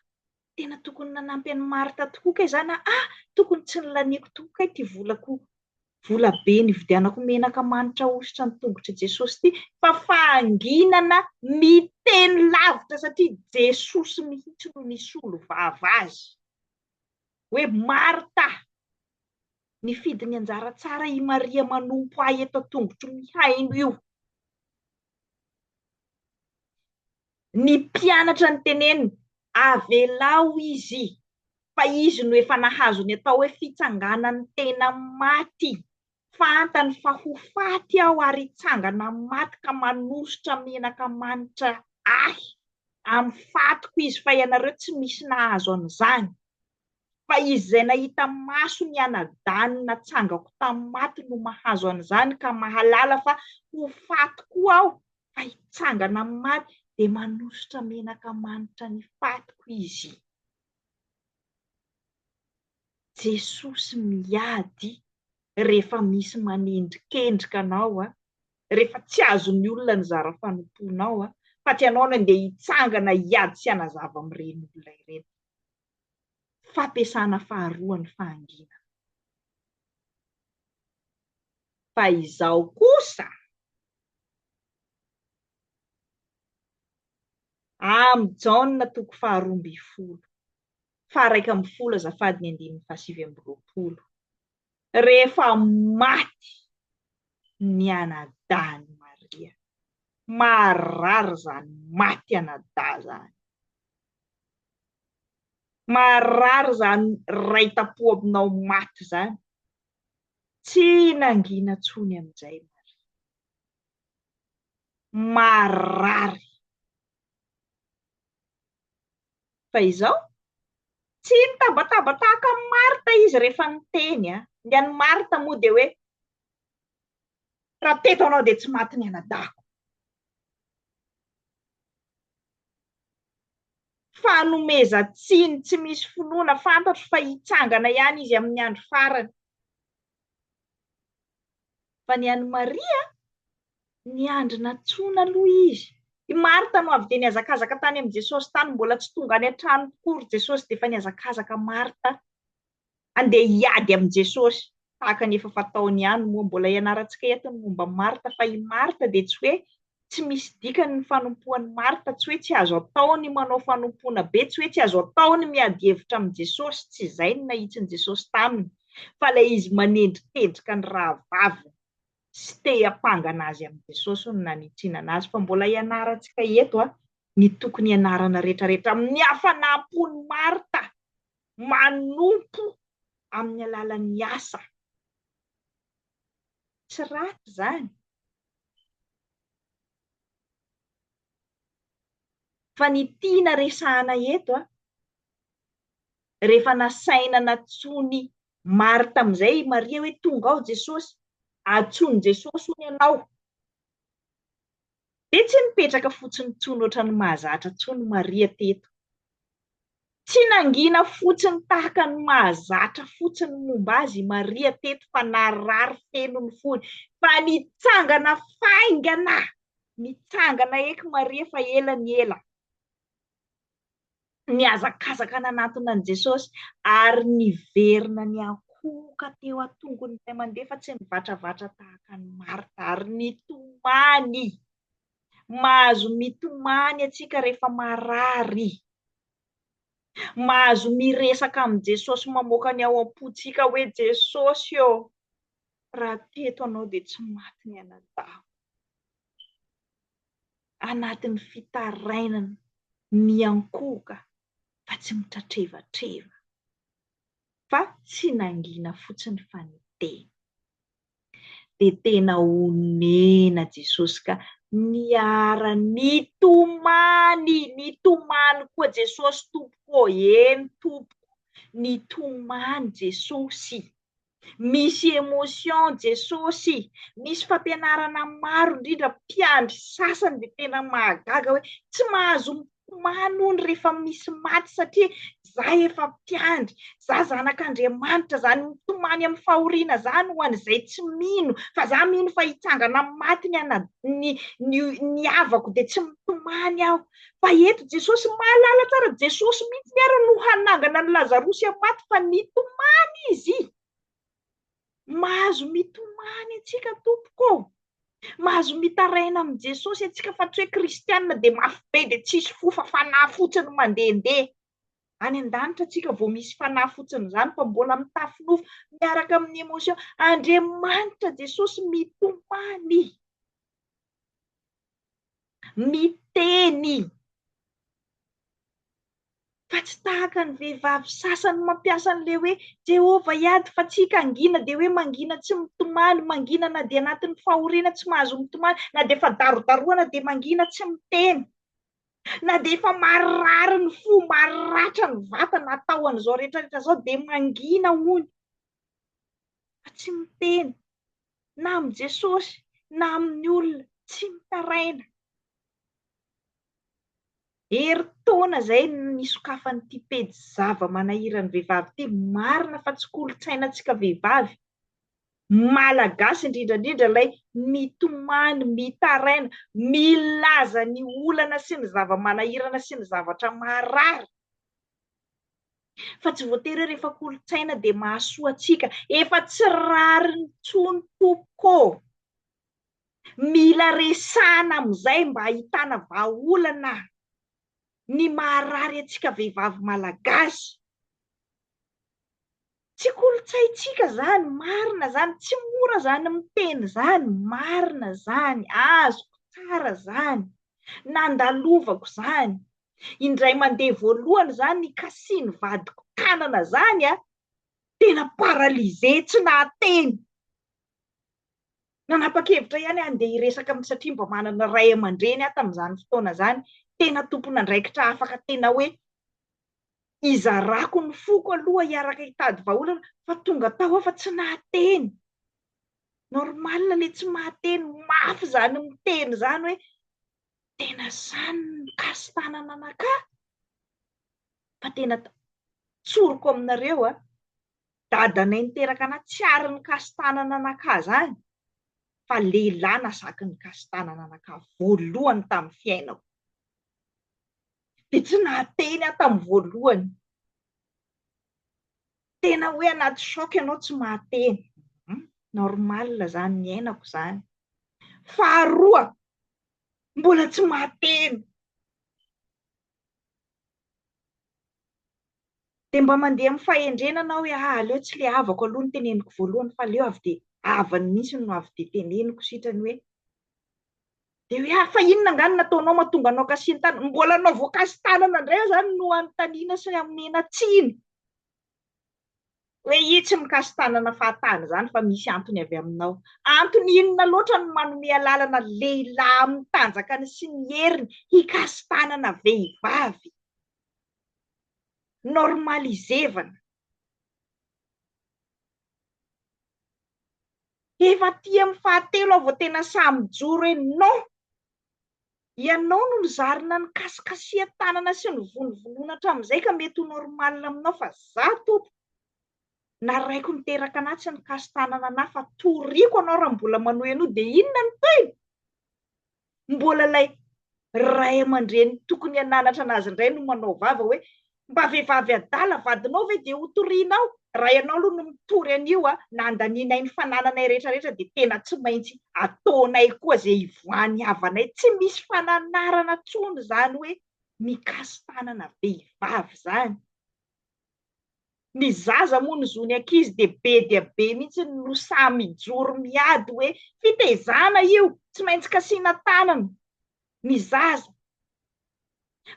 tena tokony nanampy an'i Marta tokoa kay izany aho, ah! tokony tsy nilaniako tokoa kay ity volako, vola be nividianako menaka manitra ahosotra ny tongotr'i Jesosy ity, fa fahanginana miteny lavitra satria Jesosy mihitsy no nisolo vava azy hoe Marta! Nifidy ny anjara tsara i Maria manompo ahy eto an-tongotro mihaino io. Ny mpianatra niteneniny, Avelao izy, fa izy no efa nahazo ny atao hoe fitsanganan'ny tena maty. Fantany fa ho faty aho ary hitsangana amin'ny maty ka manosotra menaka manitra ahy amin'ny fatiko izy, fa ianareo tsy misy nahazo an'izany. Fa izy izay nahita maso ny anadahiny natsangako tamin'ny maty no mahazo an'izany ka mahalala fa ho faty koa aho, fa hitsangana amin'ny maty, dia manosotra menaka manitra ny fatiko izy. Jesosy miady rehefa misy manendrikendrika anao, rehefa tsy azon'ny olona ny zara fanompoanao, fa tsy ianao no andeha hitsangana hiady sy hanazava amin'ireny olona ireny. fampiasana faharoa ny fahanginana. Fa izao kosa, Am Jaona toko faharoa ambin'ny folo, faharaika ambin'ny folo azafady ny andininy fahasivy amby roapolo, rehefa maty ny anadahin'i Maria, maharary izany maty anadahy izany. Maharary zany raitampo aminao maty zany. Tsy nangina tsony amizay Maria. Maharary. Fa izao? Tsy nitabataba tahaka an'i Marta izy rehefa niteny a! Ny an'i Marta moa dia hoe, raha teto anao dia tsy maty ny anadahiko. Fanomezan-tsiny tsy misy finoana, fantatro fa hitsangana ihany izy amin'ny andro farany. Fa ny an'i Maria, niandry nantsoina aloha izy. I Marta no avy dia nihazakazaka tany amin'i Jesosy tany, mbola tsy tonga any an-trano tokoa ry Jesosy dia efa nihazakazaka Marta Andeha hiady amin'i Jesosy, tahaka ny efa fataony ihany moa. Mbola ianarantsika eto ny momba an'i Marta, fa i Marta dia tsy hoe tsy misy dikany ny fanompoan'i Marta, tsy hoe tsy azo atao ny manao fanompoana be, tsy hoe tsy azo atao ny miady hevitra amin'i Jesosy, tsy izay no nahitsin'i Jesosy taminy, fa ilay izy manendrikendrika ny rahavaviny sy te hiampangana azy amin'i Jesosy no nanitsinana azy. Fa mbola ianarantsika eto ny tokony ianarana rehetrarehetra amin'ny hafanam-pon'i Marta. manompo amin'ny alalan'ny asa. Tsy ratsy izany. Fa ny tiana resahana eto, rehefa nasaina natsoin'i Marta amin'izay i Maria hoe tonga ao Jesosy, atsoin'i Jesosy hono ianao. Dia tsy nipetraka fotsiny intsony ohatran'ny mahazatra intsony Maria teto. Tsy nangina fotsiny tahaka ny mahazatra fotsiny momba azy i Maria teto fa narary feno ny fony. Fa nitsangana faingana! Nitsangana eky Maria fa ela ny ela. nihazakazaka nanatona an'i Jesosy ary niverina niankohoka teo an-tongony ny iray mandeha fa tsy nivatravatra tahaka an'i Marta ary nitomany. Mahazo mitomany antsika rehefa marary. Mahazo miresaka amin'i Jesosy mamoaka ny ao am-pontsika hoe Jesosy ô, raha teto anao dia tsy maty ny anadahy. anatin'ny fitarainana miankohoka fa tsy mitratrevatreva, fa tsy nangina fotsiny fa niteny. Dia tena onena Jesosy ka niara-nitomany, nitomany koa Jesosy tompoko ô, eny tompoko, nitomany Jesosy. Misy emotion Jesosy, misy fampianarana maro indrindra mpiandry sasany dia tena mahagaga hoe tsy mahazo mitomany hono rehefa misy maty satria za efa mpiandry, za zanak'Andriamanitra, izany mitomany amin'ny fahoriana izany ho an'izay tsy mino fa za mino fa hitsangana amin'ny maty ny havako dia tsy mitomany aho. fa eto Jesosy mahalala tsara Jesosy mihitsy ny ary no hanangana ny Lazarosy amin'ny maty fa nitomany izy mahazo mitomany antsika tompoko mahazo mitaraina amin'i Jesosy antsika fa tsy hoe kristianina dia mafy be dia tsisy fo fa fanahy fotsiny mandehandeha. Any an-danitra antsika vao misy fanahy fotsiny izany fa mbola mitafy nofo miaraka amin'ny emotion. Andriamanitra Jesosy mitomany. Miteny fa tsy tahaka ny vehivavy sasany mampiasa an'ilay hoe Jehovah hiady fa tsika hangina dia hoe mangina tsy mitomany, mangina na dia anatin'ny fahoriana tsy mahazo mitomany, na dia efa darodarohana dia mangina tsy miteny, na dia efa marirary ny fo, mariratra ny vatana atao an'izao rehetrarehetra izao dia mangina hono fa tsy miteny. na amin'i Jesosy na amin'ny olona tsy mitaraina. Herintaona izay nisokafan'ity pejy zava-manahiran'ny vehivavy ity. Marina fa tsy kolontsainantsika vehivavy Malagasy indrindra indrindra ilay mitomany, mitaraina, milaza ny olana sy ny zava-manahirana sy ny zavatra maharary. Fa tsy voatery hoe rehefa kolontsaina dia mahasoa antsika. Efa tsy rariny intsony tompoko ô. Mila resahana amin'izay mba ahitana vahaolana ny maharary antsika vehivavy malagasy. Tsy kolontsaintsika izany, marina izany, tsy mora izany miteny izany, marina izany, azoko tsara izany, nandalovako izany, indray mandeha voalohany izany nikasihin'ny vadiko tanana izany an, tena paralysé tsy nahateny, nanapa-kevitra ihany aho handeha hiresaka amin'ny satria mba manana ray aman-dreny aho tamin'izany fotoana izany, tena tompon'andraikitra afaka tena hoe Hizarako ny foko aloha hiaraka hitady vahaolana fa tonga tao aho fa tsy nahateny. Normal le tsy mahateny mafy zany miteny zany hoe tena zany ny kasi-tanana anakà fa tena tsoriko aminareo a, dadanay niteraka anà tsy ary ny kasi-tanana anakà zany fa lehilahy nasaky ny kasi-tanana anakà voalohany tamin'ny fiainako. dia tsy nahateny aho tamin'ny voalohany. Tena hoe anaty choc ianao tsy mahateny. Hmm, normal izany ny ainako izany. Faharoa, mbola tsy mahateny. Dia mba mandeha amin'ny fahendrena anao hoe ah, aleo tsy le havako aloha ny teneniko voalohany fa aleo avy dia havany mihitsy no avy dia teneniko sitrany hoe Dia hoe ary fa inona angaha no nataonao mahatonga anao kasihan-tanana? Mbola anao voakasi-tanana indray aho izany no hanontaniana sy hamena tsiny. Hoe i tsy mikasi-tanana fahatany izany fa misy antony avy aminao. Antony inona loatra no manome alalana lehilahy amin'ny tanjakany sy ny heriny hikasi-tanana vehivavy? Normalizevana. Efa aty amin'ny fahatelo aho vao tena sahy mijoro hoe non! Ianao no nizarina ny kasikasihan-tanana sy ny vonovonoana hatramin'izay ka mety ho normal aminao fa za Tompo, naraiko niteraka anah tsy nikasin-tanana anah fa toriko anao raha mbola manohy an'io dia inona ny tohiny? mbola ilay ray aman-dreny tokony hananatra anazy indray no manao vava hoe mba vehivavy adala vadinao ve dia ho torianao? raha ianao aloha no mitory an'io a, na andanianay ny fanananay rehetra rehetra dia tena tsy maintsy ataonay koa izay hivoahan'ny havanay, tsy misy fananarana intsony izany hoe mikasi-tanana vehivavy izany. Ny zaza moa ny zon'ny ankizy dia be dia be mihitsy no sahy mijoro miady hoe fitaizana io, tsy maintsy kasiana tanana ny zaza.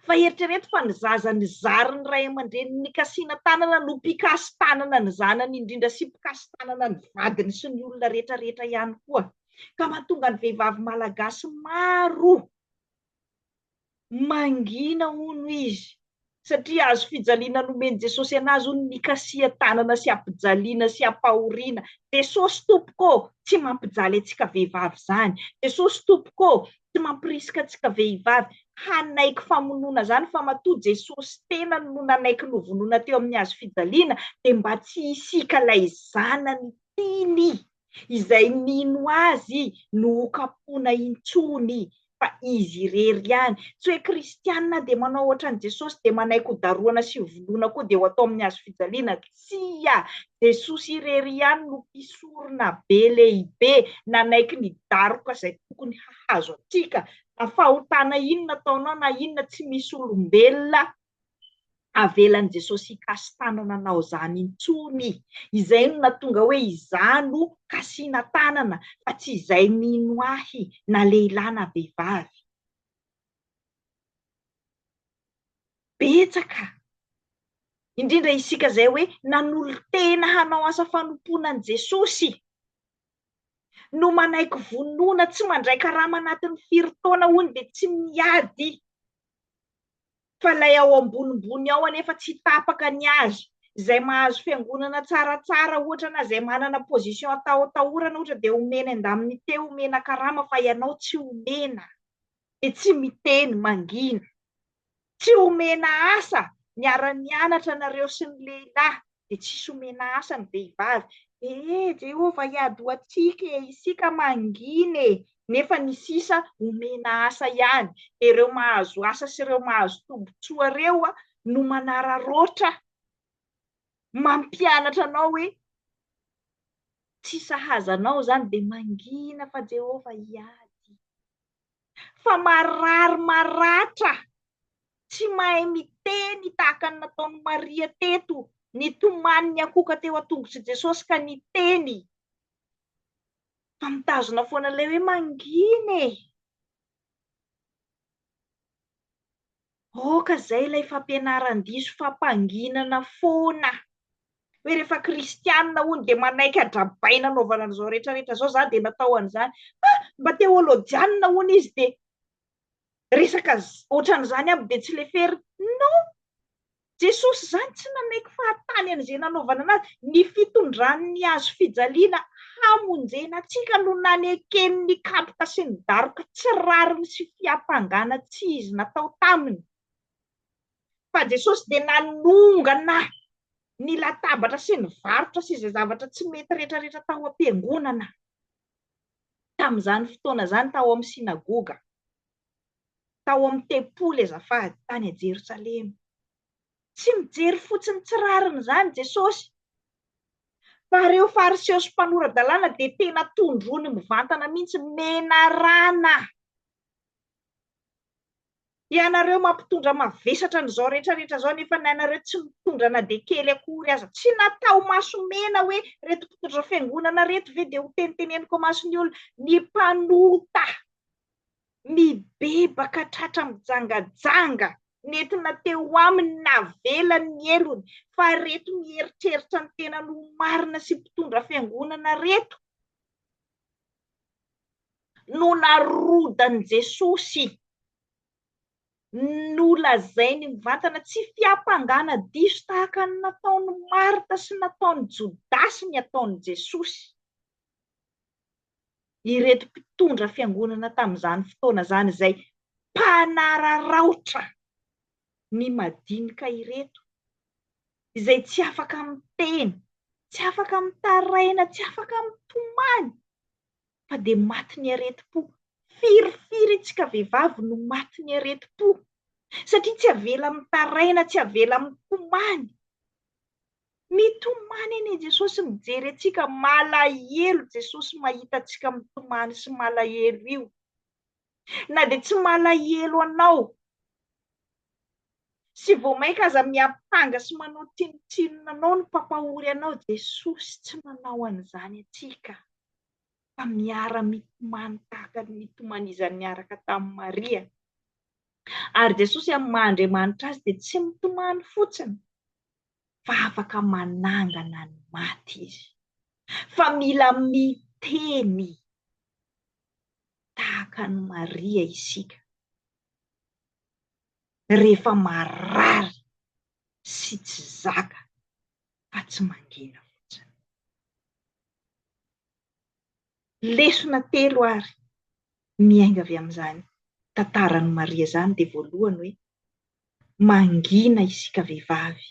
Fa eritrereto fa ny zaza nizary ny ray aman-dreniny nikasiana tanana no mpikasi-tanana ny zanany indrindra sy mpikasi-tanana ny vadiny sy ny olona rehetra rehetra ihany koa. Ka mahatonga ny vehivavy malagasy maro Mangina hono izy, satria hazo fijaliana nomen'i Jesosy anazy hono ny kasihan-tanana sy hampijaliana sy hampahoriana. Jesosy Tompoko ô! Tsy mampijaly antsika vehivavy izany. Jesosy Tompoko ô! Tsy mampirisika antsika vehivavy hanaiky famonoana izany, fa matoa Jesosy Tenany no nanaiky novonoina teo amin'ny hazo fijaliana, dia mba tsy hisiaka ilay Zanany Tiany Izay mino azy no ho kapohina intsony fa izy irery ihany. Tsy hoe kristiana dia manao ohatran'i Jesosy dia manaiky ho darohana sy ho vonoina koa dia ho atao amin'ny hazo fijaliana. Tsia! Jesosy irery ihany no mpisorona be lehibe nanaiky ny daroka izay tokony hahazo antsika na fahotana inona ataonao na inona tsy misy olombelona avelan'i Jesosy hikasi-tanana anao izany intsony. Izay no nahatonga hoe izaho no kasiana-tanana fa tsy izay mino ahy na lehilahy na vehivavy. Betsaka, indrindra isika izay hoe nanolo-tena hanao asa fanompoana an'i Jesosy, no manaiky vonona tsy mandray karama anatin'ny firy taona hono dia tsy miady fa ilay ao ambonimbony ao anefa tsy tapaka ny azy, izay mahazo fiangonana tsaratsara ohatra na izay manana position atahotahorana ohatra dia omena indamnité, omena karama fa ianao tsy omena, dia tsy miteny, mangina. Tsy omena asa niara-nianatra anareo sy ny lehilahy, dia tsisy omena asa ny vehivavy. Ee Jehovah hiady ho antsika e, isika mangina e, nefa ny sisa omena asa ihany. Dia ireo mahazo asa sy ireo mahazo tombontsoa ireo no manararaotra mampianatra anao hoe tsy sahaza anao izany, dia mangina fa Jehovah hiady. fa marary maratra, tsy mahay miteny tahaka ny nataon'i Maria teto, nitomany niankohoka teo an-tongotr'i Jesosy ka niteny, fa mitazona foana ilay hoe mangina e! Aoka zay ilay fampianaran-diso fampanginana foana hoe rehefa kristianina hono dia manaiky hadrabaina hanaovana an'izao rehetra rehetra zao za dia natao an'izany fa mba teolojianina hono izy dia resaka ohatran'izany aby dia tsy lefery non Jesosy zany tsy nanaiky fahatany an'izay nanaovana anazy ny fitondran'ny hazo fijaliana Hamonjena antsika no nanekeny ny kapoka sy ny daroka tsy rariny sy fiampangana tsy izy natao taminy. Fa Jesosy dia nanongana ny latabatra sy ny varotra sy izay zavatra tsy mety rehetra rehetra tao am-piangonana, tamin'izany fotoana izany tao amin'ny synagoga, tao amin'ny tempoly azafady, tany Jerosalema. Tsy mijery fotsiny tsy rariny izany Jesosy, fa ireo Fariseo sy mpanora-dalàna dia tena tondroiny mivantana mihitsy, menarana. Ianareo mampitondra mavesatra an'izao rehetra rehetra izao nefa ny anareo tsy mitondra na dia kely akory aza. Tsy natao maso mena hoe ireto mpitondra fiangonana ireto ve dia hoteniteneniko amason'ny olona, ny mpanota. Mibebaka tratra mijangajanga, nentina teo aminy navelany ny helony, fa reto mieritreritra ny tenany ho marina sy mpitondra fiangonana reto no narodan'i Jesosy, nolazainy mivantana, tsy fiampangana diso tahaka ny nataon'i Marta sy nataon'i Jodasy ny ataon'i Jesosy. ireto mpitondra fiangonana tamin'izany fotoana izany izay mpanararaotra ny madinika ireto, izay tsy afaka miteny, tsy afaka mitaraina, tsy afaka mitomany fa dia matin'ny aretim-po. Firifiry antsika vehivavy no matin'ny aretim-po satria tsy avela mitaraina, tsy avela mitomany. Mitomany anie Jesosy mijery antsika, malahelo Jesosy mahita antsika mitomany sy malahelo io. Na dia tsy malahelo anao sy vao mainka aza miampanga sy manao tsinotsinona anao ny mpampahory anao, Jesosy tsy manao an'izany antsika fa miara mitomany tahaka ny nitomanizany niaraka tamin'i Maria. Ary Jesosy amin'ny maha Andriamanitra azy dia tsy mitomany fotsiny fa afaka manangana ny maty izy, fa mila miteny tahaka an'i Maria isika rehefa marary sy tsy zaka fa tsy mangina fotsiny. Lesona telo àry miainga avy amin'izany tantaran'i Maria izany dia voalohany hoe, mangina isika vehivavy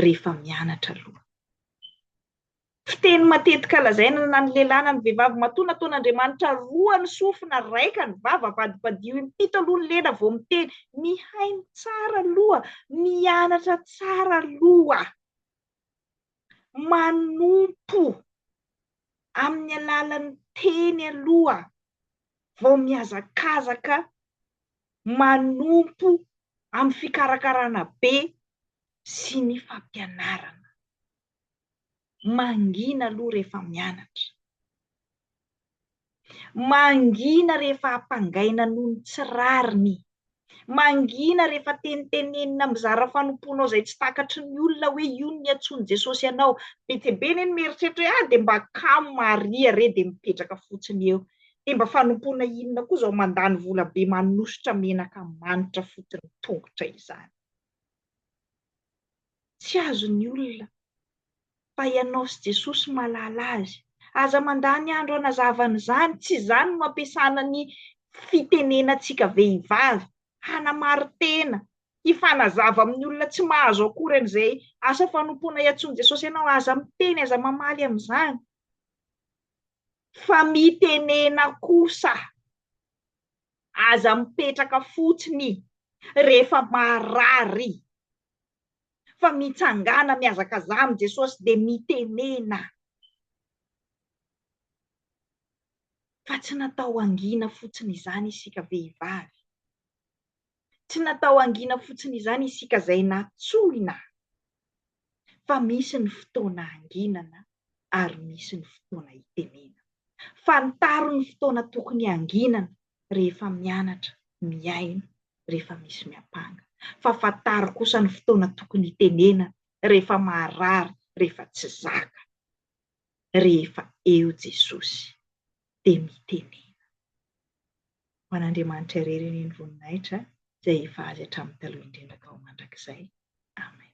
rehefa mianatra aloha. Fiteny matetika lazaina na ny lehilahy na ny vehivavy matoa nataon'Andriamanitra roa ny sofina, raika ny vava, avadibadio impito aloha ny lela vao miteny. Mihaino tsara aloha, mianatra tsara aloha. manompo amin'ny alalan'ny teny aloha vao mihazakazaka manompo amin'ny fikarakarana be sy ny fampianarana. Mangina aloha rehefa mianatra. Mangina rehefa ampangaina noho ny tsy rariny. Mangina rehefa tenitenenina mizara fanompoanao izay tsy takatry ny olona hoe io no niantsoan'i Jesosy anao. Betsebe anie no mieritreritra hoe, ah dia mba kamo Maria re dia mipetraka fotsiny eo. Dia mba fanompoana inona koa izao mandany vola be manosotra menaka manitra fotsiny tongotra izany. Tsy azon'ny olona. Fa ianao sy Jesosy mahalala azy. Aza mandany andro hanazava an'izany. Tsy izany no ampiasana ny fitenenantsika vehivavy. Hanamarin-tena, hifanazava amin'ny olona tsy mahazo akory an'izay asa fanompoana iantsoan'i Jesosy anao. Aza miteny, aza mamaly amin'izany. Fa mitenena kosa. Aza mipetraka fotsiny rehefa marary fa mitsangàna mihazakazaha amin'i Jesosy dia mitenena fa tsy natao hangina fotsiny izany isika vehivavy, tsy natao hangina fotsiny izany isika izay natsoina fa misy ny fotoana hanginana ary misy ny fotoana hitenena. Fantaro ny fotoana tokony hanginana rehefa mianatra, mihaino, rehefa misy miampanga. Fa fantaro kosa ny fotoana tokony hitenena rehefa maharary, rehefa tsy zaka. Rehefa eo Jesosy dia mitenena. Ho an'Andriamanitra irery anie ny voninahitra izay efa Azy hatramin'ny taloha indrindra ka ho mandrakizay. Amen.